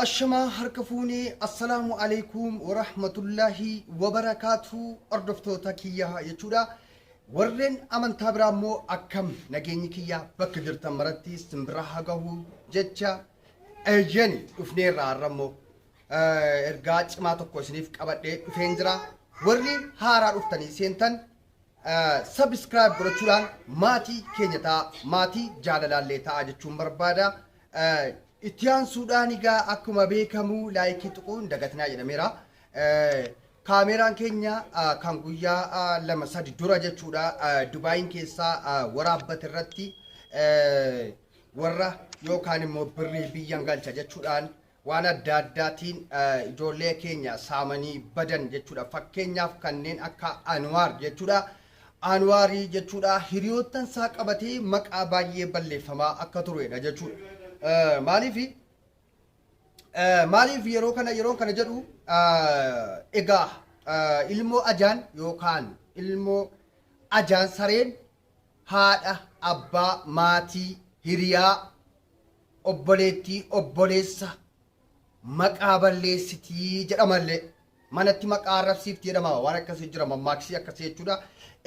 Ashamaa harka fuunee assalaamu alaikum warahmatullaahi wabarakaatuu hordoftoota kiyyaa jechuudha. Warreen amantaa biraa immoo akkam nageenyi kiyyaa bakka jirtan maratti simbira haa gahu jecha eeyyani dhufneerra har'a immoo. ergaa cimaa tokko isiniif qabadhee dhufeen jira. Warri haaraa dhuftanii seentan subscribe godhachuudhaan maatii keenya ta'a, maatii jaalalaallee ta'a jechuun barbaada. Itti aansuudhaan egaa akkuma beekamu laayikii tuquun dagatinaa jedhameera. Kaameeraan keenya kan guyyaa lama sadi dura jechuudha Dubaayiin keessaa waraabbate irratti warra yookaan immoo birrii biyyan galcha jechuudhaan waan adda addaatiin ijoollee keenya saamanii badan jechuudha. Fakkeenyaaf kanneen akka Anwaar jechuudha. Anwaarii jechuudha hiriyoottan isaa qabatee maqaa baay'ee balleeffamaa akka turedha jechuudha. Eh, Maaliif eh, maaliif yeroo kana yeroo kana jedhu eh, egaa eh, ilmoo ajaan yookaan ilmoo ajaan sareen haadha, abbaa, maatii, hiriyaa, obboleettii, obboleessa, maqaa balleessiti jedhama illee. Manatti maqaa arrabsiifti jedhama. Waan akkasii jira mammaaksi akkasii jechuudha.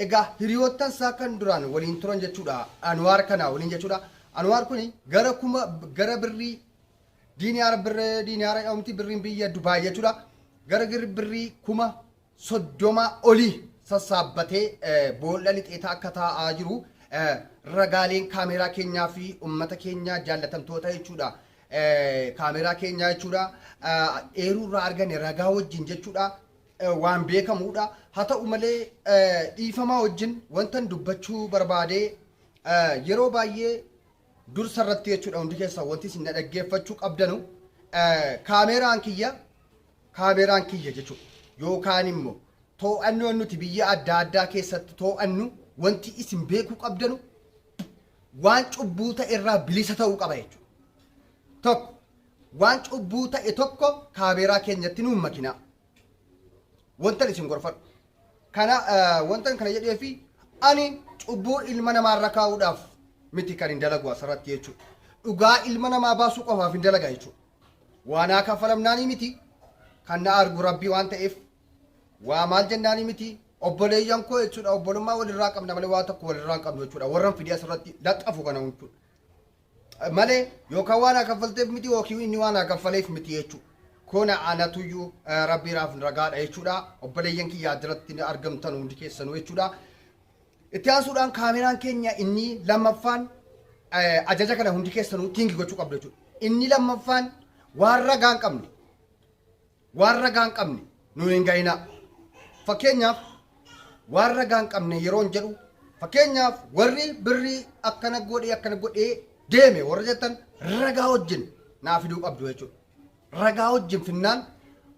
Egaa hiriyoottan isaa kan duraan waliin turan jechuudha. Anwaar kana waliin jechuudha. Anwaar kuni gara kuma gara birrii diiniyaara birree diiniyaara jedhamti birriin biyya Dubaay jechuudha. Gara gir- birrii kuma 30 oli sassaabbatee boolla lixeetaa akka taa'aa jiru ragaaleen kaameeraa keenyaa fi ummata keenyaa jaallatamtoota jechuudha. Kaameeraa keenyaa jechuudha. Eeruu irraa argane ragaa wajjin jechuudha. Waan beekamuudha. Haa ta'u malee dhiifamaa wajjin wantan dubbachuu barbaadee yeroo baay'ee dursa irratti jechuudha hundi keessan wanti isin na dhaggeeffachuu qabdanu kaameeraan kiyya Kaameraan kiyya jechuun yookaan immoo too'annoon nuti biyya adda addaa keessatti too'annu wanti isin beekuu qabdanu waan cubbuu ta'e irraa bilisa ta'uu qaba jechuudha. Tokko waan cubbuu ta'e tokko kaameeraa keenyatti nuun makinaa. Wantan isin gorfadhu. Kana wantan kana jedhee fi ani cubbuu ilma namaa irra kaa'uudhaaf miti kan hin dalagu asirratti jechuudha. Dhugaa ilma namaa baasuu qofaaf hin dalaga jechuudha. Waa naa kaffalamnaanii miti kan na argu rabbii waan ta'eef waa maal jennaanii miti obboleeyyan koo jechuudha obbolummaa walirraa qabna malee waa tokko walirraa hin qabnu jechuudha warran fidee asirratti laxxafu kana jechuudha. malee yookaan waan haa kaffalteef miti yookiin inni waan haa kaffaleef miti jechuudha. Kona anatuyyuu rabbiiraaf ragaadha jechuudha. Obboleeyyan kiyyaa jiratti argamtan hundi keessanuu jechuudha. Itti aansuudhaan kaameraan keenya inni lammaffaan ajaja kana hundi keessanuu tiingi gochuu qabdu jechuudha. Inni lammaffaan waan ragaa hin qabne waan ragaa hin qabne nu hin ga'inaa. Fakkeenyaaf waan ragaa hin qabne yeroo hin jedhu fakkeenyaaf warri birrii akkana godhee akkana godhee deeme warra jettan ragaa wajjin naa fiduu qabdu jechuudha. Ragaa wajjin finnaan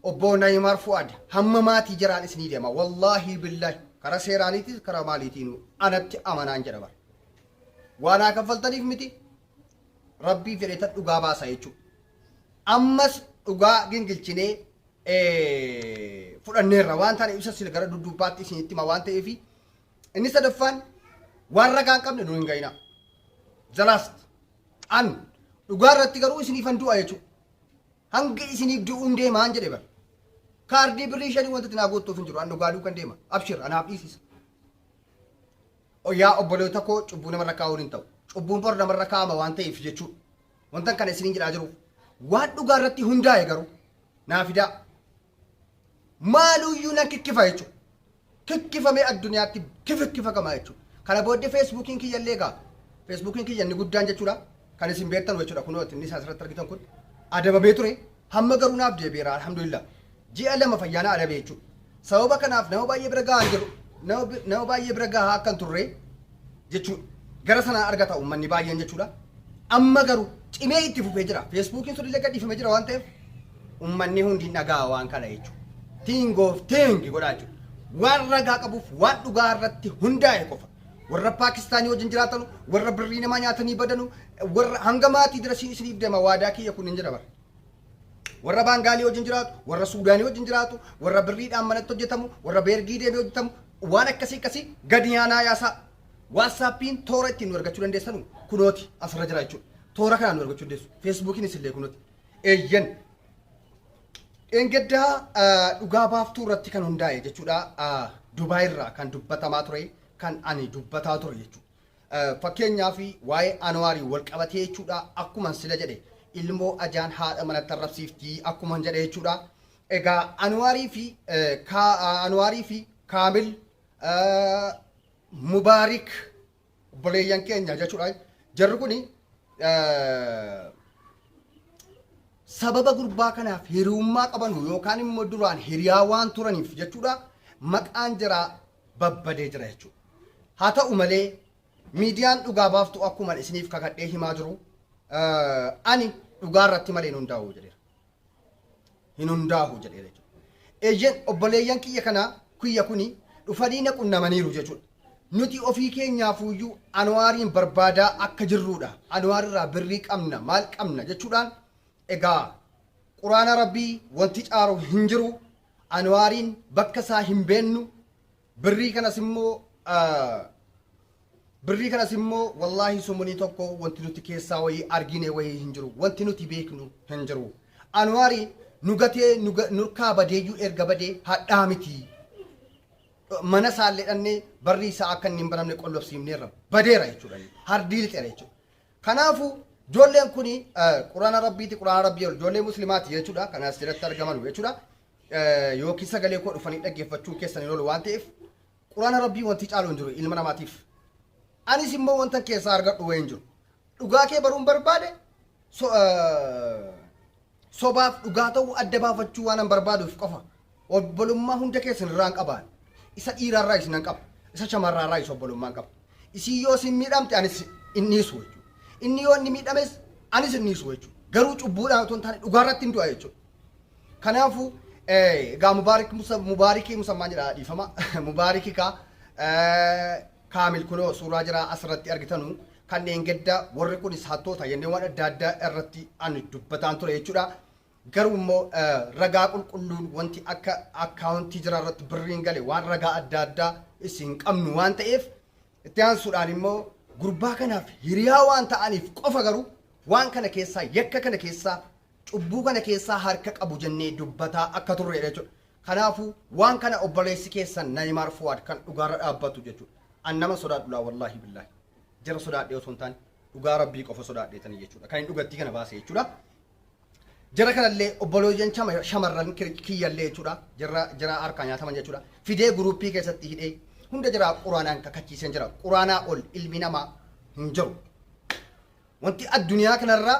Obbo Nayimaar Fu'aad hamma maatii jiraanis ni deema. Wallaahii billaahi karaa seeraaniitis karaa maaliitiinuu anatti amanaan jedha bara. Waa naa kaffaltaniif miti rabbii fedhetan dhugaa baasa jechuu. Ammas dhugaa gingilchinee eh, fudhanneerra waan taane ibsa sila gara dudduubbaatti isinitti hima waan ta'eefi inni sadaffaan waan ragaa hin qabne nu hin ga'inaa. The last. An dhugaa irratti garuu isiniifan du'a jechuudha. Hangi isiniif du'uun deemaan jedhe bara. Kaardii birrii shanii wanta tinaa goottuuf hin jiru. An dhugaa duukan deema. Abshir anaaf dhiisisa. Yaa obboloota koo cubbuu namarra kaa'uun hin ta'u. Cubbuun bor namarra kaa'ama waan ta'eef jechuudha. Wantan kana isiniin jedhaa jiruuf. Waan dhugaa irratti hundaa'e garuu naa fidaa. maaluuyyuu nan kikkifa jechuudha. Kikkifamee addunyaatti kifikkifakama jechuudha. Kana booddee feesbuukiin kiyya illee egaa feesbuukiin kiyya inni guddaan jechuudha. Kan isin beektan jechuudha kunoo inni isaa asirratti argitan kun adabamee ture. Hamma garuu naaf deebi'eera alhamdulillah. Ji'a lama fayyaana adabee jechuudha. Sababa kanaaf nama baay'ee bira gahaa hin jiru. Nama baay'ee bira gahaa akka hin turre jechuudha. Gara sanaa argata uummanni baay'een jechuudha. Amma garuu cimee itti fufee jira. Feesbuukiin sun illee gadhiifamee jira waan ta'eef uummanni hundi hin dhaga'a waan kana jechuudha. King of King godhaa jechuudha. Waan ragaa qabuuf waan dhugaa irratti hundaa'e qofa. Warra Paakistaanii wajjin jiraatanu, warra birrii namaa nyaatanii badanu, warra hanga maatii dira siin isiniif deema waadaa kiyya kun hin jira bara. Warra Baangaalii wajjin jiraatu, warra Suudaanii wajjin jiraatu, warra birriidhaan manatti hojjetamu, warra beergii deemee hojjetamu, waan akkasii akkasii gadi yaanaa yaasaa. Waatsaappiin toora ittiin nu argachuu dandeessanu kunooti asirra jira jechuudha. Toora kanaan nu argachuu dandeessu. Feesbuukiin isillee kunooti. Eeyyan. Dheengaddaa ah, dhugaa baaftuu irratti kan hundaa'e jechuudha. Ah, Dubaay irraa kan dubbatamaa ture kan ani dubbataa ture jechuudha. Fakkeenyaaf waa'ee Anwaariin wal qabatee jechuudha akkuman sila jedhe ilmoo ajaan haadha manatti arrabsiifti akkuman jedhe jechuudha. Egaa Anwaarii fi Anwaarii fi Kaamil Mubaarik obboleeyyan keenya jechuudha. Jarri kuni sababa gurbaa kanaaf hiriyummaa qabanu yookaan immoo duraan hiriyaa waan turaniif jechuudha maqaan jaraa babbadee jira jechuudha. Haa ta'u malee miidiyaan dhugaa baaftu akkuman isiniif kakadhee himaa jiru ani dhugaa irratti malee hin hundaa'u jedheera. Hin hundaa'u jedheera jechuudha. Eeyyeen obboleeyyan kiyya kanaa kiyya kuni dhufanii na qunnamaniiru jechuudha. Nuti ofii keenyaafuyyuu Anwaariin barbaadaa akka jirruudha. Anwaar irraa birrii qabna maal qabna jechuudhaan egaa quraana rabbii wanti caaru hin jiru. Anuwaariin bakka isaa hin beennu birrii kanas immoo birrii kanas immoo wallaahi sumunii tokko wanti nuti keessaa wayii argine wayii hin jiru wanti nuti beeknu hin jiru anuwaari nu gatee nurkaa badeeyyuu erga badee hadhaa miti mana isaallee dhannee barrii isaa akka inni hin baramne qollobsiifneerra badeera jechuudha hardii lixeera jechuudha Kanaafu joolleen kuni Qurana Rabbiiti Qurana Rabbii ol joollee Muslimaati jechuudha kan asirratti argamanu jechuudha yookiin sagalee koo dhufanii dhaggeeffachuun keessan hin oolu waan ta'eef Qurana Rabbii wanti caalu hin jiru ilma namaatiif anis immoo wanta keessaa argadhu wayii hin jiru dhugaa kee baruun barbaade so, uh, Sobaaf dhugaa ta'uu adda baafachuu waanan barbaaduuf qofa obbolummaa hunda keessan irraan qabaan. Isa dhiiraa irraayis nan qaba. Isa shamarraa irraayis obbolummaan qaba. Isiin yoo isin miidhamte anis hin dhiisu jechuudha. Inni yoo inni miidhames anis hin dhiisu jechuudha. Garuu cubbuudhaan otoo hin taane dhugaa irratti hin du'a jechuudha. Kanaafuu egaa mubaarik musa mubaarikii musammaan jedha dhiifama mubaarikii kaa Kaamil kunoo suuraa jaraa as irratti argitanu kan dheengedda warri kunis hattoota jennee waan adda addaa irratti ani dubbataan ture jechuudha. Garuu immoo ragaa qulqulluun wanti akka akkaawuntii jira irratti birriin gale waan ragaa adda addaa isin qabnu waan ta'eef itti aansuudhaan immoo gurbaa kanaaf hiriyaa waan ta'aniif qofa garuu waan kana keessaa yakka kana keessaa cubbuu kana keessaa harka qabu jennee dubbataa akka turreedha jechuudha. Kanaafuu waan kana obboleessi keessan Nayimaar Fuwaad kan dhugaarra dhaabbatu jechuudha. An naman sodaadhu laa wallaahi billaahi. Jara sodaadhee osoo hin taane dhugaa Rabbii qofa sodaadheetanii jechuudha. Kan hin dhugattii kana baase jechuudha. Jara kanallee obbolooyyan chama- shamarran kir- kiyyallee jechuudha. Jara jara harkaa nyaataman jechuudha. Fidee guruuppii keessatti hidhee hunda jara quraanaan kakachiiseen jira. Quraanaa ol ilmi namaa hin jiru. Wanti addunyaa kanarraa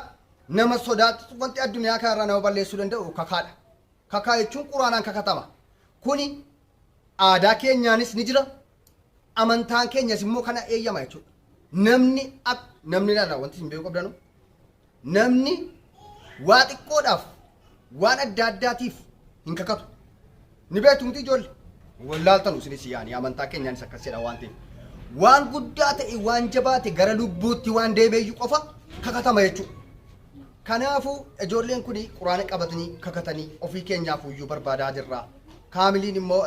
nama sodaachisu wanti addunyaa kanarraa nama balleessuu danda'u kakaadha. Kakaa jechuun Qur'aanaan kakatama. Kuni aadaa keenyaanis ni jira. Amantaan keenyas immoo kana eeyyama jechuudha. Namni ak namni laala wanti isin beekuu qabdanu namni waa xiqqoodhaaf waan adda addaatiif hin kakatu. Ni beektu miti ijoollee. Wallaaltanu isinis yaani amantaa keenyaanis akkas jedha waan ta'eef. Waan guddaa ta'e waan jabaate gara lubbuutti waan deemeeyyu qofa kakatama jechuudha. Kanaafuu ijoolleen kun quraana qabatanii kakatanii ofii keenyaafuyyuu barbaadaa jirra. Kaamiliin immoo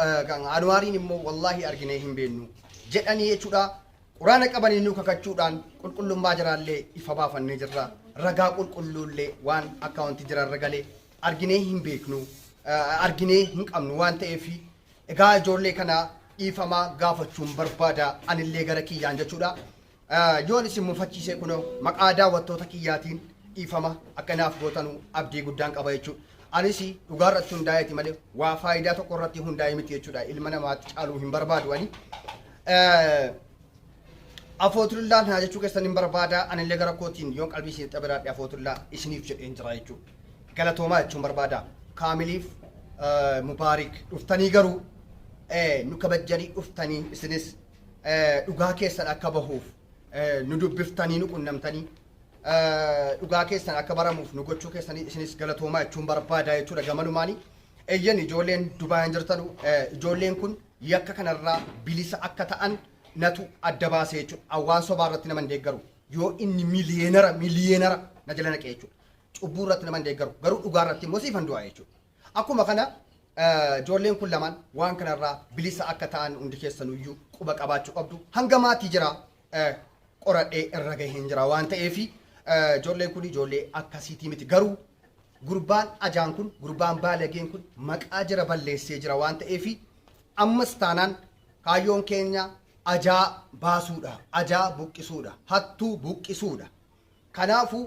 Anuwaariin immoo wallaahi arginee hin beennu jedhanii jechuudha. Quraana qabanii nu kakachuudhaan qulqullummaa jiraallee ifa baafannee jirra. Ragaa qulqulluullee waan akkaawuntii jiraarra gale arginee hin beeknu arginee hin qabnu waan ta'eef egaa ijoollee kana dhiifamaa gaafachuun barbaada anillee gara kiyyaan jechuudha. Yoon isin mufachiisee kunoo maqaa daawwattoota kiyyaatiin dhiifama akka naaf gootanu abdii guddaan qaba jechuudha. Anis dhugaa irratti hundaa'eeti malee waa faayidaa tokko irratti hundaa'e miti jechuudha. Ilma namaatti caaluu hin barbaadu ani. Afootullaa naa jechuu keessan hin barbaada anillee gara kootiin yoon qalbii isin xabiraadhe afootullaa isiniif jedheen jira jechuudha. Galatoomaa jechuun barbaada. Kaamiliif Mubaarik dhuftanii garuu nu kabajjanii dhuftanii isinis dhugaa keessan akka bahuuf nu dubbiftanii nu qunnamtanii dhugaa keessan akka baramuuf nu gochuu keessanii isinis galatoomaa jechuun barbaadaa jechuudha gamanumaanii. Eeyyan ijoolleen Dubaayan jirtanu ijoolleen kun yakka kanarraa bilisa akka ta'an natu adda baasee jechuudha. Awwaan sobaa irratti nama hin deeggaru. Yoo inni miliyeenara miliyeenara na jala naqee jechuudha. Cubbuu irratti nama hin deeggaru. Garuu dhugaa irratti immoo siifan du'aa jechuudha. Akkuma kana ijoolleen kun lamaan waan kana irraa bilisa akka ta'an hundi keessanuu iyyuu quba qabaachuu qabdu. Hanga maatii jira qoradhee irra gaheen jira waan ta'eef ijoolleen kun ijoollee akkasiitii miti. Garuu gurbaan ajaan kun gurbaan baalageen kun maqaa jira balleessee jira waan ta'eef ammas taanaan kaayyoon keenya ajaa baasuudha. Ajaa buqqisuudha. Hattuu buqqisuudha. Kanaafu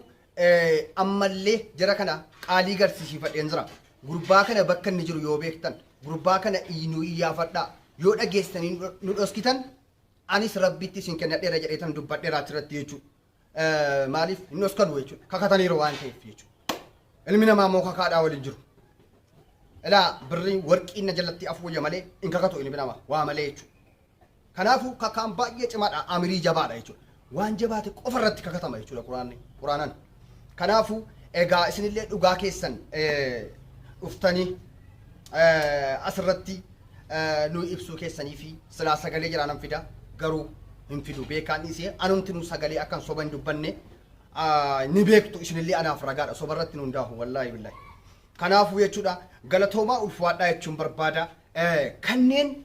ammalle jara kana qaalii garsiisiifadheen jira. Gurbaa kana bakka inni jiru yoo beektan, gurbaa kana nuu iyyaafadhaa. Yoo dhageessitanii nu dhoskitan, anis Rabbitti isin kennadheera jedheetan dubbadheera achirratti jechuu. Maaliif hin dhoskanu jechuudha. Kakataniiru waan ta'eef jechuudha. Ilmi namaa immoo kakaadhaa wal hin jiru. Ilaa birriin warqiin na jalatti afuuyya malee hin kakatu ilmi namaa waa malee jechuudha. Kanaafuu kakaan baay'ee cimaadha, amirii jabaadha jechuudha. Waan jabaate qofa irratti kakatama jechuudha Quraanni, Quraanan. Kanaafuu egaa isinillee dhugaa keessan dhuftanii asirratti nu ibsuu keessanii fi silaa sagalee jiraanan fida garuu hin fidu beekaan dhiisee anumti nu sagalee akkan soba hin dubbanne ni beektu isinillee anaaf ragaadha soba irratti nu hundaahu wallaahi billaahi. Kanaafuu jechuudha galatoomaa ulfaadhaa jechuun barbaada kanneen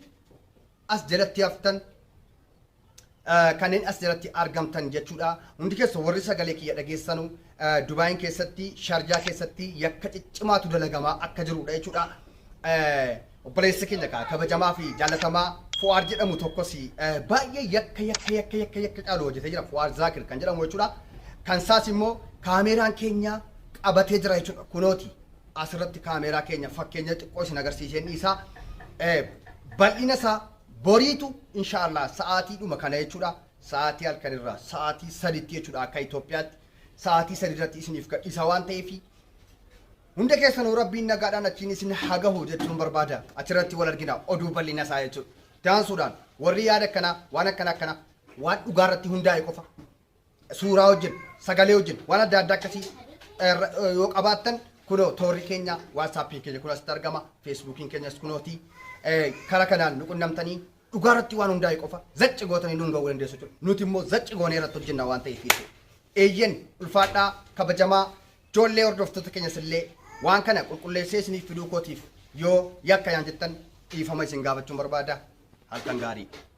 as jalatti haftan kanneen as jalatti argamtan jechuudha. Hundi keessa warri sagalee kiyya dhageessanu Dubaayin keessatti Sharjaa keessatti yakka ciccimaatu dalagamaa akka jirudha jechuudha. Obboleessi keenya kaa kabajamaa fi jaallatamaa Fuwaar jedhamu tokkos baay'ee yakka yakka yakka yakka yakka caalu hojjetee jira Fuwaar Zaakir kan jedhamu jechuudha. Kan isaas immoo kaameeraan keenya qabatee jira jechuudha kunooti. As irratti kaameeraa keenya fakkeenya xiqqoo isin agarsiiseen dhiisa. Bal'ina isaa boriitu insha Allah sa'aatiidhuma kana jechuudha. Sa'aatii halkan irraa sa'aatii saditti jechuudha akka Itoophiyaatti. Sa'aatii sadi irratti isiniif gadhiisa waan ta'eef hunda keessanuu rabbiin nagaadhaan achiin isin hagahu jechuun barbaada. Achirratti wal argina oduu bal'ina isaa jechuudha. Daansuudhaan warri yaada akkanaa waan akkana akkana waan dhugaa irratti hundaa'e qofa suuraa wajjin, sagalee wajjin waan adda addaa akkasii irra- yoo qabaattan kunoo toorri keenya waatsaappiin keenya kun asitti argama feesbuukiin keenyas kunooti Eh, kara kanaan nu qunnamtanii dhugaa irratti waan hundaa'e qofa zacci gootanii nuun ga'uu dandeessu jechuudha. Nuti immoo zacci goonee irratti hojjenna waan ta'eef jechuudha. Eeyyen ulfaadhaa kabajamaa ijoollee hordoftoota keenyas illee waan kana qulqulleessee isiniif fiduu kootiif yoo yakka yaan jettan dhiifama isin gaafachuun barbaada halkan gaarii.